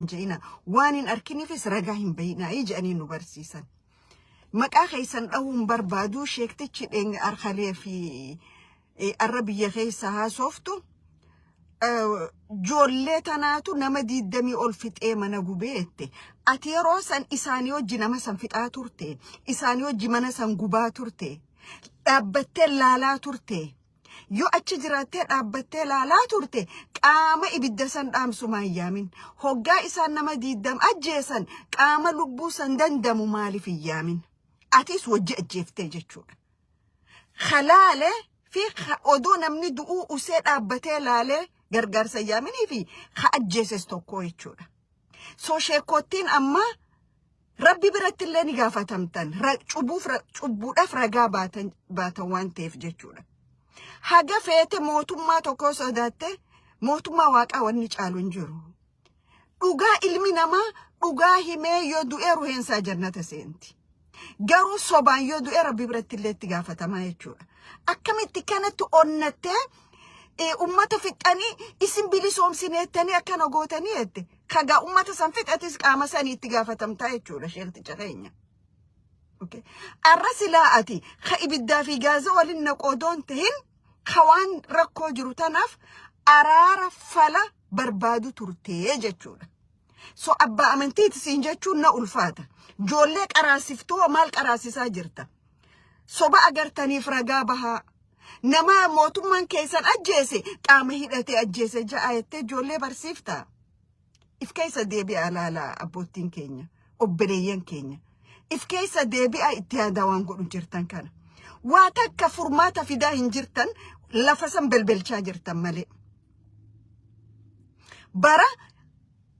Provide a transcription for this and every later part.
hin je'ina waan hin arkiniifis ragaa hin bayinaa jedhanii nu barsiisan maqaa keessan dhahuun barbaaduu sheektichi dheeng arkalee fi eh, arra biyya keessa haasoftu eh, joollee tanaatu nama diiddamii ol fixee mana gubee jette ati yeroo san isaanii hojji nama san fixaa turte isaanii hojji mana san gubaa turte dhaabbattee laalaa turte Yoo achi jiraattee dhaabbattee laalaa turte qaama ibidda san dhaamsu maa hin yaamin? Hoggaa isaan nama diiddam ajjeesan qaama lubbuu san dandamu maaliif hin yaamin? Atis wajji ajjeeftee jechuudha. Halaale fi ha- odoo namni du'uu usee dhaabbatee laalee gargaarsa hin yaaminii fi ha ajjeeses tokko jechuudha. So sheekkoottiin ammaa Rabbi biratti illee ni gaafatamtan. Ra- Cubbuuf ra- cubbuudhaaf ragaa baatan baatan waan ta'eef jechuudha. Haga feete mootummaa tokkoo sodaatte mootummaa waaqaa wanni caalu hin jiru. Dhugaa ilmi namaa dhugaa himee yoo du'e ruheensaa jannata seenti. Garuu sobaan yoo du'e rabbi biratti illee itti gaafatamaa jechuudha. Akkamitti kanatti onnattee eh, ummata fixxanii isin bilisoomsineettanii akkana gootanii jette. kagaa ummata san fixatis qaama sanii itti gaafatamtaa jechuudha sheekticha keenya. Okay. Arra silaa ati ka ibiddaa fi gaaza waliin naqoodoon tahin ka waan rakkoo jiru tanaaf araara fala barbaadu turtee jechuudha. So abbaa amantiiti siin jechuun na ulfaata. Joollee qaraasiftoo maal qaraasisaa jirta? Soba agartaniif ragaa bahaa. Nama mootummaan keessan ajjeese qaama hidhatee ajjeese ja'a jettee ijoollee barsiifta. If keessa deebi'aa laala abboottiin keenya, obboleeyyan keenya. If keessa deebi'aa itti yaadaa waan godhu jirtan kana. Waa takka furmaata fidaa hin jirtan lafa san belbelchaa jirtan malee. Bara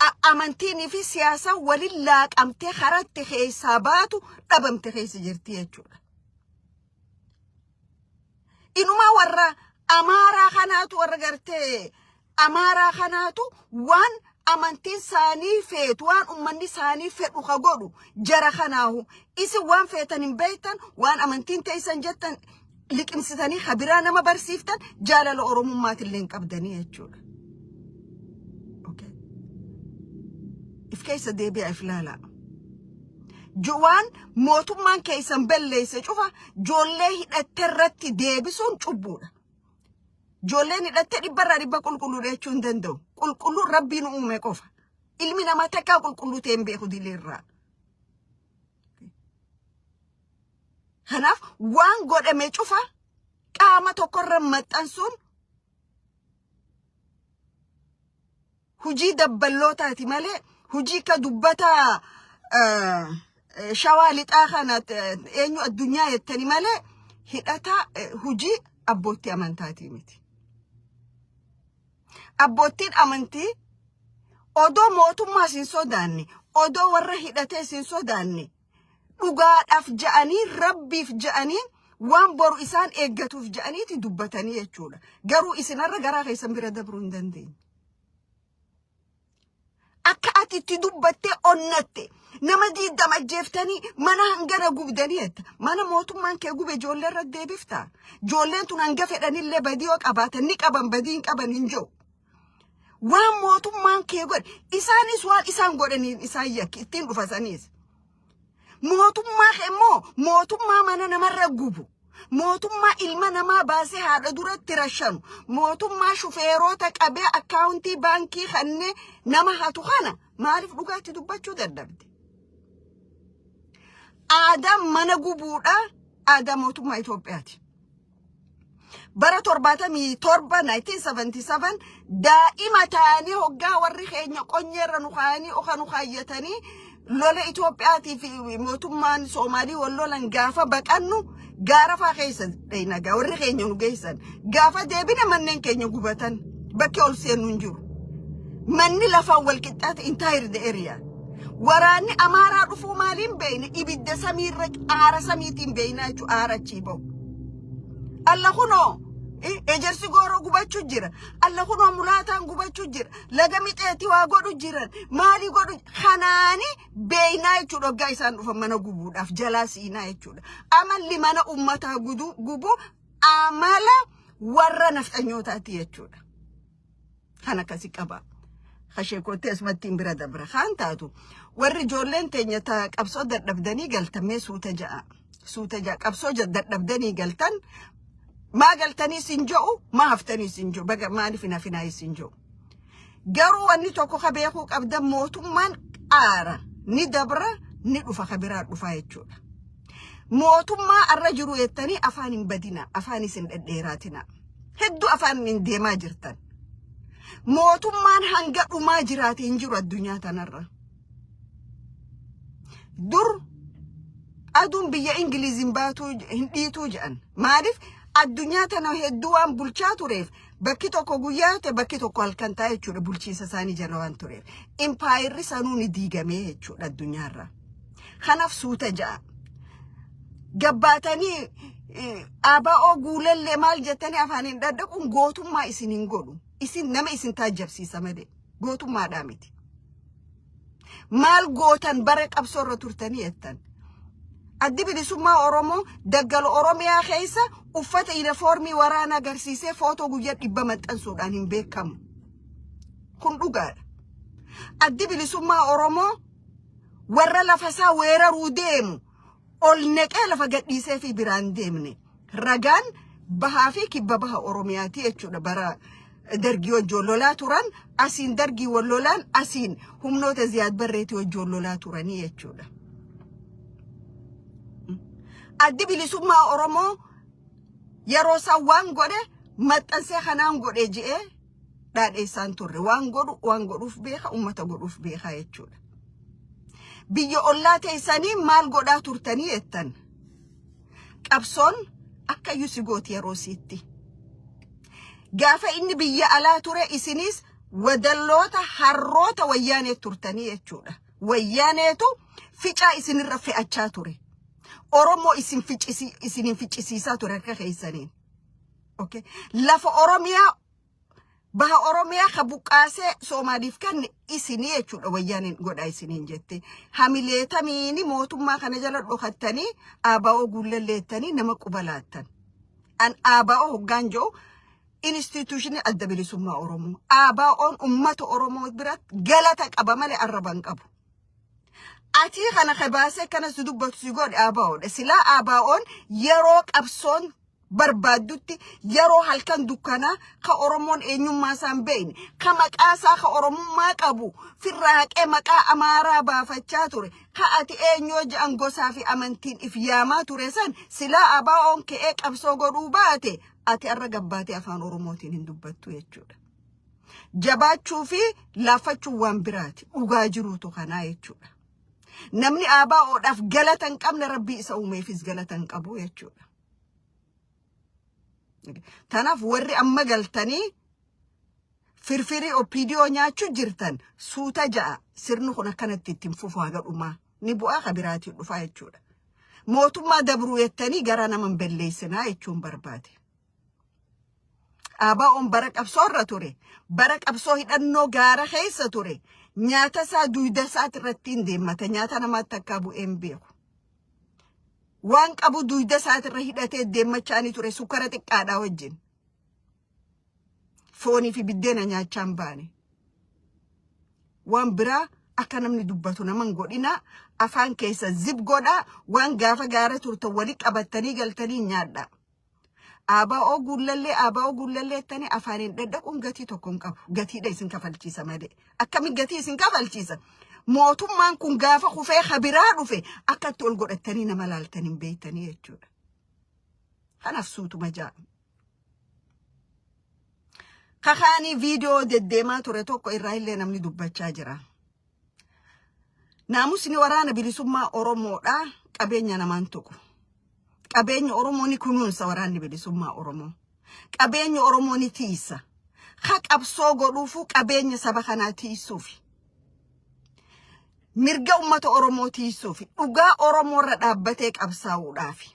a amantiinii fi siyaasaan walin laaqamtee karaa itti keessaa baatu dhabamte keessa jirti jechuudha. Inumaa warra amaaraa kanaatu warra gartee amaaraa kanaatu waan amantiin isaanii feetu waan ummanni isaanii fedhu ka godhu jara kanaahu isin waan feetan hin beektan waan amantiin teessan jettan liqimsitanii ha biraa nama barsiiftan jaalala oromummaatillee hin qabdanii jechuudha. Okay. If keessa deebi'a if laalaa. Jo- Waan mootummaan keessan balleesse cufa joollee hidhatte irratti deebisuun cubbuudha. Joolleen hidhatte dhibba irraa dhibba qulqulluudha jechuu hin danda'u. Qulqulluun rabbiin uume qofa. Ilmi namaa takkaa qulqulluu ta'e hin beeku dilee irraa. Kanaaf waan godhame cufa qaama tokkorra maxxansuun hujii dabballootaati malee hujii ka dubbataa shawaa lixaa kana eenyu addunyaa jettani malee hidhataa hujii abbootti amantaatii miti. Abboottiin amantii odoo mootummaa isin sodaanne, odoo warra hidhatee isin sodaanne, dhugaadhaaf ja'anii, rabbiif ja'anii, waan boru isaan eeggatuuf ja'aniiti dubbatanii jechuudha. Garuu isinarra garaa keessan bira dabruu hin dandeenye. Akka ati itti dubbattee onnatte nama diiddama ajjeeftanii mana hangana gubdanii jetta. Mana mootummaan kee gube ijoollee irra deebifta. Ijoolleen tun hanga fedhanillee badii yoo qabaatan ni qaban badii hin qaban hin jiru. Waan mootummaan kee godhe isaanis waan isaan godhaniin isaan yakki ittiin dhufa saniis. Mootummaa kee immoo mootummaa mana namarra gubu. Mootummaa ilma namaa baasee haadha duratti rashanu. Mootummaa shufeeroota qabee akkaawuntii baankii kannee nama hatu kana maaliif dhugaatti dubbachuu dadhabde? Aadaan mana gubuudha. Aadaa mootummaa Itoophiyaati. bara 77 1977 daa'ima taanee hoggaa warri keenya qonyeerra nu kaayanii oka nu kaayyatanii lola Itoophiyaatii fi mootummaan Soomaalii wal lolan gaafa baqannu gaarafaa keessa dhaynagaa warri keenya nu geessan gaafa deebine manneen keenya gubatan bakki ol seennu hin jiru. Manni lafaan wal qixxaate entire the area. Waraanni Amaaraa dhufuu maaliin beeyne ibidda samiirra aara samiitiin beeynaa jechuudha aara achii bahu. Alla kunoo i- ejersi gooroo gubachuu jira. Alla kunoo mulaataan gubachuu jira. Laga mixeetti waa godhu jiran. Maalii godhu kanaani beeynaa jechuudha oggaa isaan dhufan mana gubuudhaaf jalaa siinaa jechuudha. Amalli mana ummataa guduu gubuu amala warra nafxanyootaati jechuudha. kan akkasi qaba kashee koottee asumattiin bira dabra kaan taatu warri ijoolleen teenya ta qabsoo dadhabdanii galtan mee suuta ja'a suuta ja'a qabsoo ja- dadhabdanii galtan maa galtanii sin jo'u maa haftanii sin jo'u baga maaliif hin hafinaa sin jo'u garuu wanni tokko ka beekuu qabdan mootummaan qaara ni dabra ni dhufa ka biraa dhufaa jechuudha. mootummaa arra jiru jettanii afaan hin badina afaan isin dhedheeraatina hedduu afaan hin deemaa jirtan mootummaan hanga dhumaa jiraate hin jiru addunyaa tanarra dur aduun biyya ingiliiziin baatuu hin dhiituu jedhan maaliif addunyaa tana hedduu waan bulchaa tureef bakki tokko guyyaa ta'e bakki tokko halkan ta'a jechuudha bulchiinsa isaanii jala waan tureef impaayirri sanuu ni diigamee jechuudha addunyaarraa. Kanaaf suuta ja'a. Gabbaatanii eh, ABO guulallee maal jettanii afaan hin dhadhaquun gootummaa isin hin godhu. Isin nama isin taajjabsiisa malee gootummaadhaa miti. Maal gootan bara qabsoo irra turtanii jettan. Addi bilisummaa Oromoo daggala Oromiyaa keessa uffata yunifoormii waraana agarsiisee footoo guyyaa dhibba maxxansuudhaan hin beekamu. Kun dhugaadha. Addi bilisummaa Oromoo warra lafa isaa weeraruu deemu ol neqee lafa gadhiisee fi biraan deemne ragaan bahaa fi kibba baha oromiyaati jechuudha bara dargii wajjin lolaa turan asiin dargii wal lolaan asiin humnoota ziyaad barreetii wajjin lolaa turanii jechuudha. Addi bilisummaa Oromoo yeroo isaan waan godhe maxxansee kanaan godhe je'ee dhaadheessaan turre waan godhu waan godhuuf beeka ummata godhuuf beekaa jechuudha. Biyya ollaa teessanii maal godhaa turtanii jettan qabsoon akka yusi gooti yeroo siitti. Gaafa inni biyya alaa ture isinis wadalloota harroota wayyaanee turtanii jechuudha. Wayyaaneetu ficaa isinirra fe'achaa ture. Oromoo isin ficisi isinin ficisiisaa ture harka keessaniin. Okay. Lafa Oromiyaa baha Oromiyaa ka buqqaasee Soomaaliif kenne isinii jechuudha wayyaaniin godhaa isiniin jette. Hamileetamiini mootummaa kana jala dhokattanii ABO guullalleettanii nama quba laattan. An ABO hoggaan jedhu instituushinii adda bilisummaa Oromoo. ABO'n uummata Oromoo biratti galata qaba malee arraba hin qabu. Atii kana kabaasee kanas dubbatu si godhe ABO'dha. Silaa ABO'n yeroo qabsoon barbaaddutti yeroo halkan dukkanaa ka Oromoon eenyummaa isaa hin beekne ka maqaa isaa ka Oromummaa qabu firraa haqee maqaa Amaaraa baafachaa ture ka ati eenyoo ja'an gosaa fi amantiin if yaamaa ture san silaa ABOn ka'ee qabsoo godhuu baate ati arra gabbaatee afaan Oromootiin hin dubbattu jechuudha. Jabaachuu fi laaffachuun waan biraati dhugaa jiruutu kanaa jechuudha. Namni ABOdhaaf galata hin qabne rabbii isa uumeefis galata hin qabu jechuudha. Tanaaf warri amma galtanii firfirii OPDO nyaachuu jirtan suuta ja'a sirni kun akkanatti ittiin fufu haga dhumaa ni bu'aa ka biraatiin dhufaa jechuudha. Mootummaa dabruu jettanii gara nama hin belleessinaa jechuun barbaade. ABOn bara qabsoo irra ture. Bara qabsoo hidhannoo gaara keessa ture. Nyaata isaa duuda isaati irratti hin deemmata. Nyaata namaatti akka bu'ee hin beeku. waan qabu duyda isaatirra hidhatee deemmachaanii ture sukkara xiqqaadhaa wajjin foonii fi biddeena nyaachaa hin baane waan biraa akka namni dubbatu nama hin godhinaa afaan keessa zib godhaa waan gaafa gaara turtan wali qabattanii galtanii nyaadhaa. Abaa'oo guullallee abaa'oo guullallee jettanii afaaniin dhadhaquun gatii tokko hin qabu. Gatiidha isin kafalchiisa malee. Akkamiin gatii isin kafalchiisa? Mootummaan kun gaafa kufee ha biraa dhufe akka itti ol godhattanii nama laaltan hin beektanii jechuudha. Kanaaf suutuma ja'a. Kakaanii viidiyoo deddeemaa ture tokko irraa illee namni dubbachaa jira. Naamusni waraana bilisummaa Oromoodha. Qabeenya namaan tuqu. Qabeenya Oromoo ni kunuunsa waraanni bilisummaa Oromoo. Qabeenya Oromoo ni tiisa. Ha qabsoo godhuufuu qabeenya saba kanaa tiisuufi. Mirga uummata Oromoo tiisuufi. Dhugaa Oromoo irra dhaabbatee qabsaa'uudhaafi.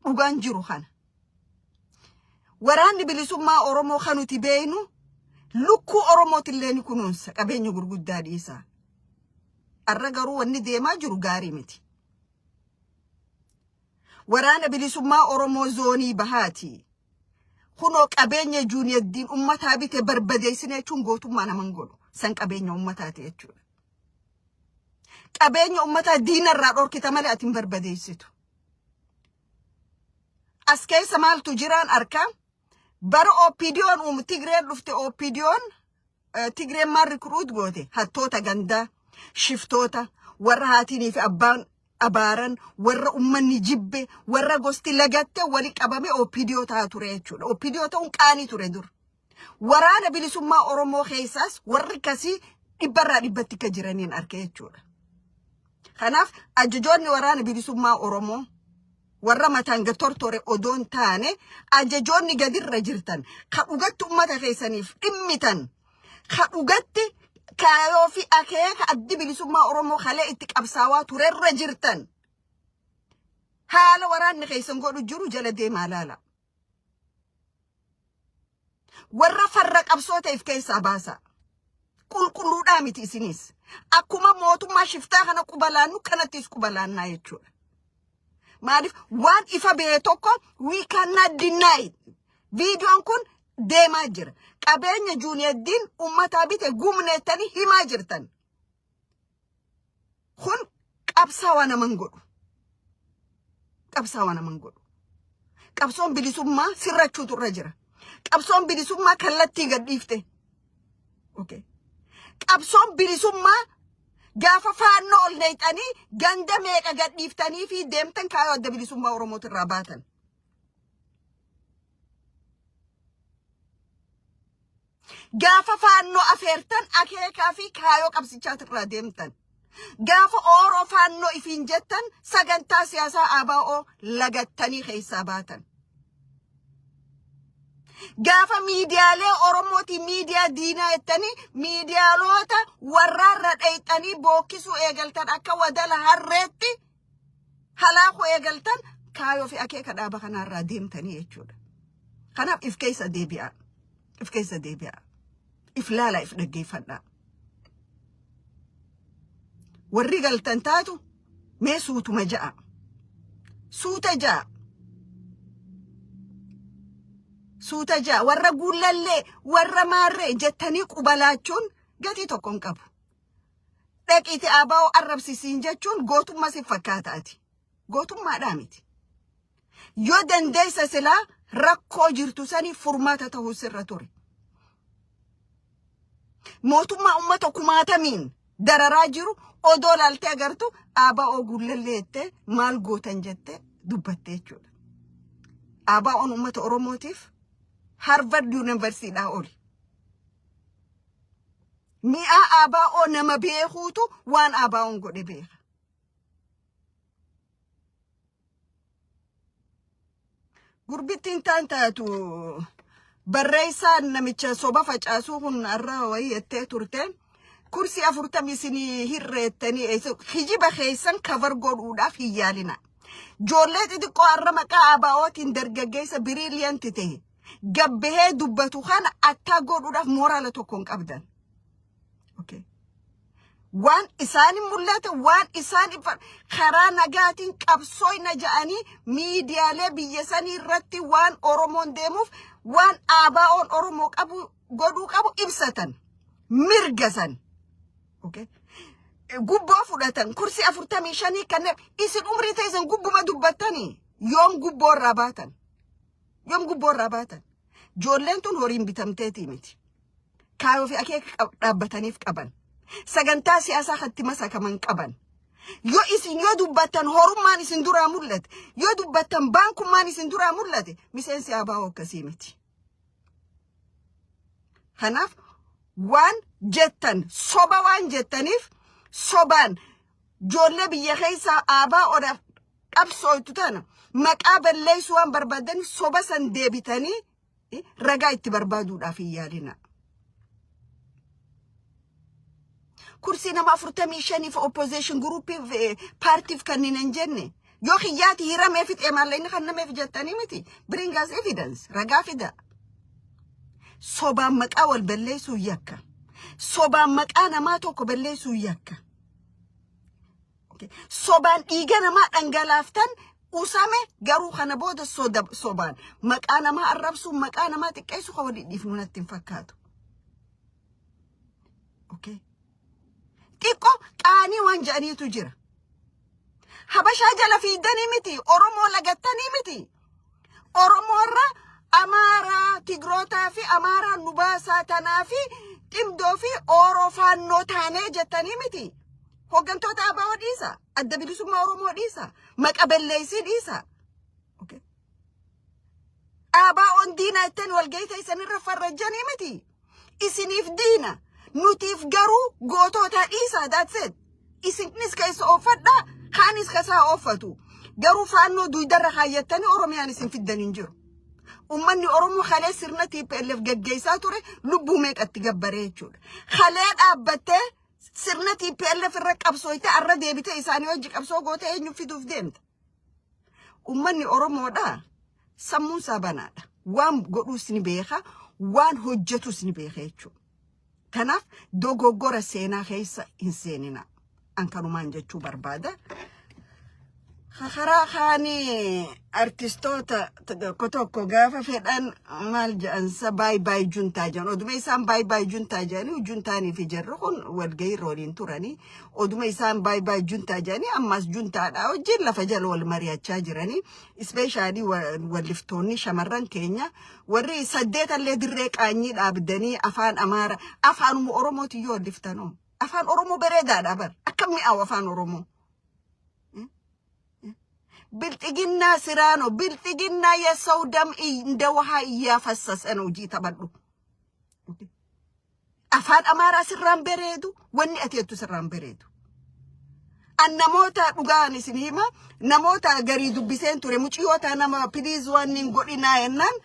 dhugaan jiru kana. Waraanni bilisummaa Oromoo kan nuti beeknu lukkuu Oromootillee ni kunuunsa qabeenya gurguddaa dhiisaa. Har'a garuu wanni deemaa jiru gaarii miti. Waraana bilisummaa Oromoo zoonii bahaati. Kunoo qabeenya juuniyaddiin ummataa bite barbadeessine jechuun gootummaa naman godhu. San qabeenya ummataati jechuudha. Qabeenya ummataa diina irraa dhorkita malee ati hin barbadeessitu. As keessa maaltu jiraan arkaa? Bara OPDO'n uumu Tigreen dhufte OPDO'n eh, Tigreen maal rikruut goote? Hattoota gandaa, shiftoota, warra haatiinii fi abbaan abaaran, warra ummanni jibbe, warra gosti lagatte wali qabame OPDO ta'a ture jechuudha. OPDO ta'uun qaanii ture dur. Waraana bilisummaa Oromoo keessaas warri kasii dhibbarraa dhibbatti akka jiraniin arge jechuudha. Kanaaf ajajoonni waraana bilisummaa Oromoo warra mataan gad tortore odoo hin taane ajajoonni gadirra jirtan ka dhugatti ummata keessaniif dhimmitan ka dhugatti kaayoo fi akeeka addi bilisummaa Oromoo kalee itti qabsaawaa turerra jirtan haala waraanni keessan godhu jiru jala deemaa laala. Warra farra qabsoo ta'eef keessaa baasaa. Qulqulluudhaa miti isiniis. Akkuma mootummaa shiftaa kana quba laannu kanattis quba laannaa jechuudha. Maaliif waan ifa ba'e tokko we cannot deny. Viidiyoon kun deemaa jira. Qabeenya juuniyeeddiin uummataa bite gumneettanii himaa jirtan. Kun qabsaawaa nama hin godhu. Qabsaawaa nama hin godhu. Qabsoon bilisummaa sirrachuutu irra jira. Qabsoon bilisummaa kallattii gad dhiifte. Okay. Qabsoon bilisummaa gaafa faannoo ol neexanii ganda meeqa gad dhiiftanii fi deemtan kaayoo adda bilisummaa Oromootu irraa baatan. Gaafa faannoo afeertan akeekaa fi kaayoo qabsichaati irraa deemtan. Gaafa ooroo faannoo ifiin jettan sagantaa siyaasaa ABO lagattanii keessaa baatan. Gaafa miidiyaalee Oromooti miidiyaa diinaa jettanii miidiyaaloota warraarra dheeyxanii bookkisuu eegaltan akka wadala harreetti halaakuu eegaltan kaayoo fi akeeka dhaaba kanaarraa deemtanii jechuudha. Kanaaf if keessa deebi'aa. If keessa deebi'aa. If laalaa if dhaggeeffadhaa. Warri galtan taatu mee suutuma ja'a. Suuta ja'a. Suuta ja'a. Warra guullallee, warra maarree jettanii quba laachuun gatii tokko hin qabu. dhaqiiti abaa'oo arrabsi siin jechuun gootummaa si fakkaata ati. Gootummaadhaa miti. Yoo dandeessa silaa rakkoo jirtu saniif furmaata ta'uu sirra ture. Mootummaa uummata kumaatamiin dararaa jiru odoo laaltee agartu abaa'oo gullallee jettee maal gootan jettee dubbatte jechuudha. Abaa'oon uummata Oromootiif Harvard Yuunivarsiidhaa oli. Mi'aa ABO nama beekuutu waan ABOn godhe beeka. Gurbittiin taan taatu barreessaan namicha soba facaasuu kun har'a wayii jettee turte. Kursi afurtamii isinii hirreettanii eessa- kijiba keessan kavar godhuudhaaf hin yaalina. Joollee xixiqqoo har'a maqaa ABOtiin dargaggeessa biriiliyanti ta'e gabbahee dubbatu kana attaa godhuudhaaf mooraala tokko hin qabdan. Okay. Waan isaan hin mul'ate, waan isaan hin far- karaa nagaatiin qabsooyna ja'anii miidiyaalee biyya sanii irratti waan Oromoon deemuuf waan ABO'n Oromoo qabu godhuu qabu ibsatan. Mirga san. Okay. Gubboo fudhatan kursii afurtamii shanii kanneen isin umrii teessan gubbuma dubbattanii yoom gubboo irraa baatan. Yoom gubboo irraa baatan? Joolleen tun horiin bitamteetii miti. Kaayoo fi akeeka qab- dhaabbataniif qaban. Sagantaa siyaasaa katti masakaman qaban. Yoo isin yoo dubbattan horummaan isin duraa mul'ate, yoo dubbattan baankummaan isin duraa mul'ate, miseensi abaa'oo akkasii miti. Kanaaf waan jettan soba waan jettaniif sobaan joollee biyya keessaa aabaa odaaf qabsooytu tana maqaa balleessu waan barbaadaniif soba san deebitanii eh, ragaa itti barbaaduudhaaf hin yaalinaa. Kursii nama afurtamii shaniif opposition groupiif eh, paartiif kanneen hin jenne yoo kiyyaati hiramee fixee maalla inni kan nameef jettanii miti bring us evidence ragaa fidaa. Sobaan maqaa wal balleessuu yakka. Sobaan maqaa namaa tokko balleessuu yakka. Sobaan dhiiga namaa dhangalaaftan usame garuu kana booda soda sobaan maqaa namaa arrabsuun maqaa namaa xiqqeessu kan walii dhiifnu natti hin fakkaatu. Okay. Xiqqoo qaanii waan jedhaniitu jira. Habashaa jala fiiddanii miti, Oromoo lagattanii miti. Oromoo irraa Amaaraa, Tigrootaa fi Amaaraa nu baasaa tanaa fi ximdoo fi ooroo faannoo taanee jettanii miti. Hooggantoota ABO dhiisa. Adda bilisummaa Oromoo dhiisa. Maqa belleessii dhiisa. Okay. ABO'n diinaa ittiin walgahii teessanirra farrajjanii miti. isiniif diina nutiif garuu gootootaa dhiisaa daatseet isinis ka isa ooffadhaa kaanis ka isaa ooffatu garuu faannoo duuydarra kaayyattanii oromiyaan isin fiddan hin jiru ummanni oromoo kalee sirna tplf gaggeessaa ture lubbuu meeqatti gabbaree jechuudha kalee dhaabbattee sirna tplf irra qabsooyte arra deebitee isaanii hojii qabsoo gootee eenyu fiduuf deemta ummanni oromoodhaa Sammuun isaa banaadha. Waan godhuus ni beeka, waan hojjetus ni beeka jechuudha. Kanaaf dogoggora seenaa keessa hin seenina. An kanumaan jechuu barbaada. Karaa kaanii artistoota tokko tokko gaafa fedhan maal jedhansa baay baay juntaa jedhan. Oduma isaan baay baay juntaa jedhanii juntaanii fi jarri kun walgahii irra waliin turanii oduma isaan baay baay juntaa jedhanii ammas juntaadhaa wajjin lafa jala wal mari'achaa jiranii Ispeeshaalii walliftoonni shamarran keenya warri saddeetallee dirree qaanyii dhaabdanii afaan Amaara afaanuma Oromootiin yoo walliftanoo afaan Oromoo bareedaadha bar akka mi'aawu afaan Oromoo. Bilxiginnaa siraanoo bilxiginnaa yasau dam inda wahaa iyyaa fassasan hojii taphadhu. Afaan Amaaraa sirraan bereedu, wanni ati jettu sirraan bereedu. An namoota dhugaan isin hima namoota garii dubbiseen ture muciyoota nama piliis waan hin godhinaa jennaan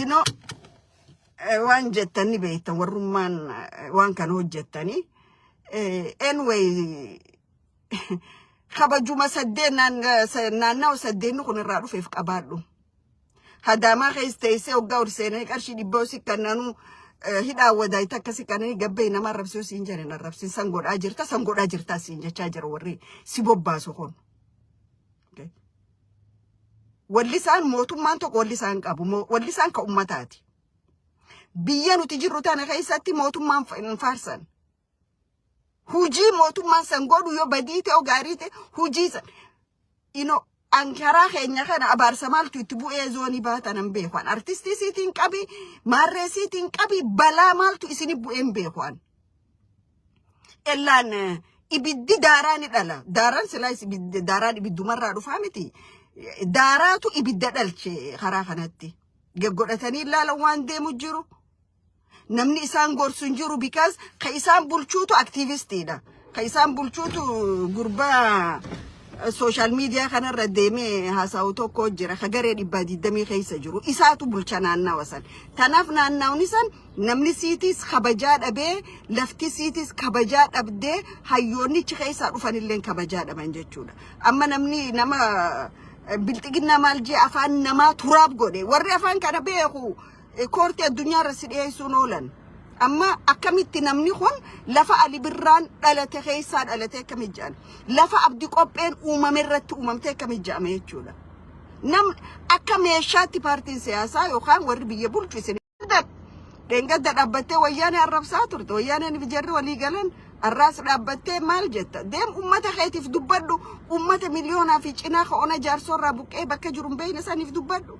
inoo eh, waan jettan ni beektan warrummaan eh, waan kana hojjettanii. Eh, Anyway kabajuma saddeen naannawa saddeenni kun irraa dhufeef qabaadhu. Hadaamaa keessa teessee hoggaa ol seenanii qarshii dhibboo si kannanuu hidhaa wadaayita akka si kannanii gabbee nama arrabsuu siin jedhan arrabsiin san godhaa jirta san godhaa jirta siin jechaa jira warri si bobbaasu kun. Walli isaan mootummaan tokko walli isaan qabu walli isaan ka ummataati. Biyya nuti jirru tana keessatti mootummaan faarsan. Hujii mootummaan san godhu yoo badii ta'e gaarii ta'e hujii san ino ankaraa keenya kana abaarsa maaltu itti bu'ee zoonii baatan hin beeku an artistii siitiin qabi maarree siitiin qabi balaa maaltu isini bu'ee hin beeku an. Ellaan eh, ibiddi daaraa ni dhala daaraan silaa is- ibiddi- daaraan ibiddumarraa dhufaa miti daaraatu ibidda dhalche karaa kanatti. Geggodhatanii ilaalan waan deemu jiru. Namni isaan gorsu hin jiru because ka isaan bulchuutu aktiivistiidha. Ka isaan bulchuutu gurbaa sooshaal miidiyaa kanarra deemee haasa'u tokko jira. Ka garee dhibbaa digdamii keessa jiru. Isaatu bulcha naannawa san. Tanaaf naannawni san namni siitis kabajaa dhabee lafti siitis kabajaa dhabdee hayyoonnichi keessaa dhufanillee kabajaa dhaban jechuudha. Amma namni nama bilxiginnaa maal jee afaan namaa turaab godhe warri afaan kana beeku Koortii addunyaa irra si dhiyeessuun oolan. Amma akkamitti namni kun lafa Ali Birraan dhalate keessaa dhalate akkamitti jedhan? Lafa abdi qopheen uumame irratti uumamte akkamitti jedhame jechuudha. Nam akka meeshaatti paartiin siyaasaa yookaan warri biyya bulchu isin dheengadda dhaabbattee wayyaanee arrabsaa turte. Wayyaaneen fi jarri walii galan arraas dhaabbattee maal jetta? Deem uummata keetiif dubbadhu. Uummata miliyoonaa fi cinaa ka'oona jaarsorraa buqqee bakka jiru hin beekne saniif dubbadhu.